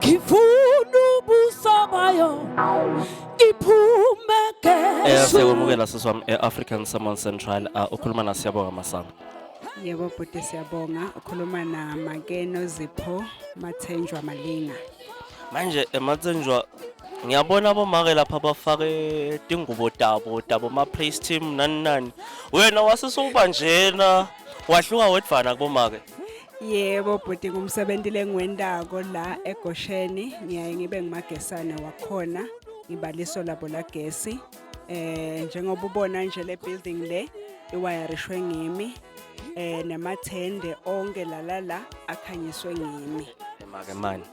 ngifuna ubuso bayo iphume Eh gesu siyakwamukela sisi wami e-African Salmon Central ah, ukhuluma na Siyabonga Masango. Yebo bhuti siyabonga ukhuluma na Makeno Zipho Mathenjwa Malinga. Manje ematsenjwa ngiyabona abomake lapha bafake tingubo tabo tabo ma place team nani nani. Wena wasisuba njena wahluka wedvana kubomake. Yebo bhuti ngumsebenzi lengwendako la eGosheni ngiyaye ngibe ngumagesane wakhona ngibaliso labo lagesi eh njengoba ubona nje le building le iwayarishwe ngimi eh namathende onke lalala akhanyiswe ngimi Make mani.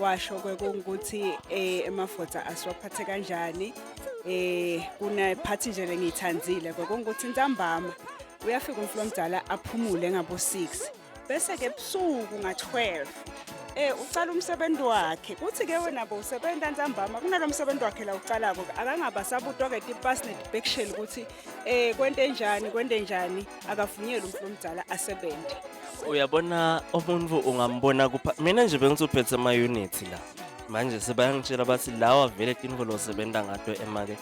washo kwekungukuthi eh emafotha asiwaphathe kanjani eh kuna phathi nje lengithandile kwekungukuthi ntambama uyafika umfula omdala aphumule ngabo 6 bese ke ebusuku nga 12 eh ucala umsebenzi wakhe kuthi ke wena bo usebenza ntambama kunalomsebenzi wakhe la ucalako akangaba sabutwa ke tipas netibeksheli ukuthi eh kwente njani kwente njani akavunyelwe umuntu omdala asebenze uyabona umuntu ungambona kupha mina nje bengizophethe ama unit la manje sebayangitshela bathi lawa vele tinvo losebenza ngato emake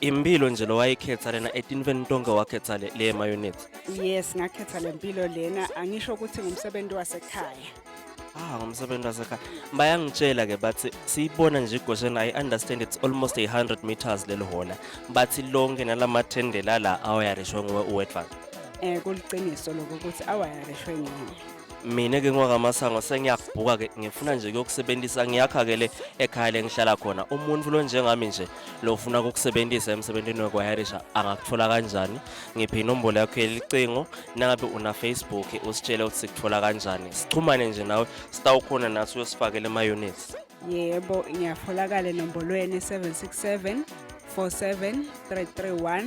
impilo nje lo wayikhetha lena etinveni tonke wakhetha le, le mayunithi yes ngakhetha le mpilo lena angisho ukuthi ngumsebenzi wasekhaya ah ngomsebenzi wasekhaya bayangitshela ke bathi siyibona nje igosheni i understand it's almost 100 meters leli hona bathi lonke nalamathendela la awayarishwe nguwe uwedvan eh kuliqiniso lokho ukuthi awayarishwe ngini mina ke ngwakamasango sengiyabhuka ke ngifuna nje kuyokusebenzisa ngiyakha ke le ekhaya lengihlala khona umuntu lo njengami nje lo ufuna ukukusebenzisa emsebenzini wekwayarisha angakuthola kanjani ngiphe inombolo yakho yelicingo nangabe una Facebook usitshele ukuthi sikuthola kanjani sixhumane nje nawe sitawukhona nathi uyosifakela ema units yebo ngiyatholakala enombolweni 767 47331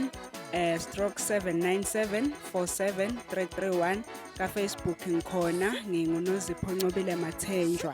eh stroke 79747331 ka Facebook ngikhona ngingunozipho Ncobile Mathenjwa